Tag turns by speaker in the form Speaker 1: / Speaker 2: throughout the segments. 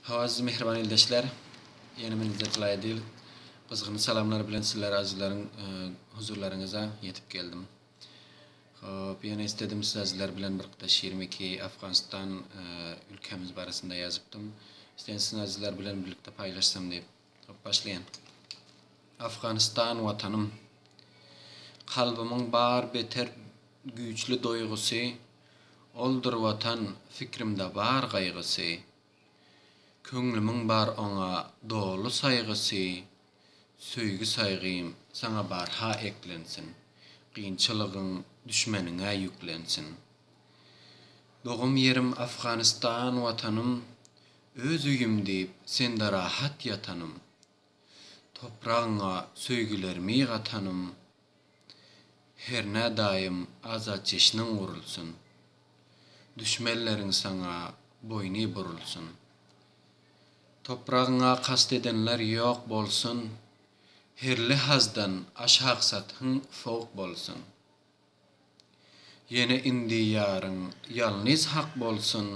Speaker 1: Hawa siz mähriban ildeşler ýene men Zetel Aýdyl gyzgyn salamlar bilen sizler azyzlaryň huzurlaryňyza ýetip geldim. Hop ýene isledim siz azyzlar bilen bir gytaş 22 Afganistan ülkämiz barasynda ýazypdym. Isledim siz azyzlar bilen birlikde paýlaşsam diýip. Hop başlaýan. Afganistan watanym. Kalbymyň bar beter güýçli doýgusy, Oldur watan fikrimde bar gaýgysy. Köňlümiň bar oňa doly saýgysy, Söýgi saýgym saňa barha eklensin, Kynçylygyň düşmeniňe ýüklensin. Dogum ýerim Afganistan watanym, Öz öýüm diýip sende rahat ýatanym, Topragyňa söýgülermi gatanym, Hernä daýym azat jeşniň gurulsyn, Düşmenleriň saňa boýny burulsyn. Topragyňa kast edenler ýok bolsun, Her lehazdan aşaksathyň sowuk bolsun. Ýene indi ýaryň ýalnyz hak bolsun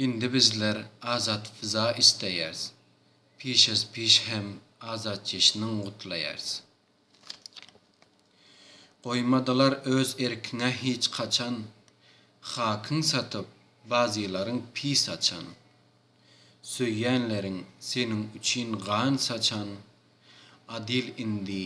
Speaker 1: Indi bizler azat fiza isleýärs Piş az piş hem azat jeşniň gutlaýars Goýmadylar öz erkiňe hiç haçan Hakyň satyp bazylaryň pi saçan Söýýänleriň seniň üçin gan saçan Adyl indi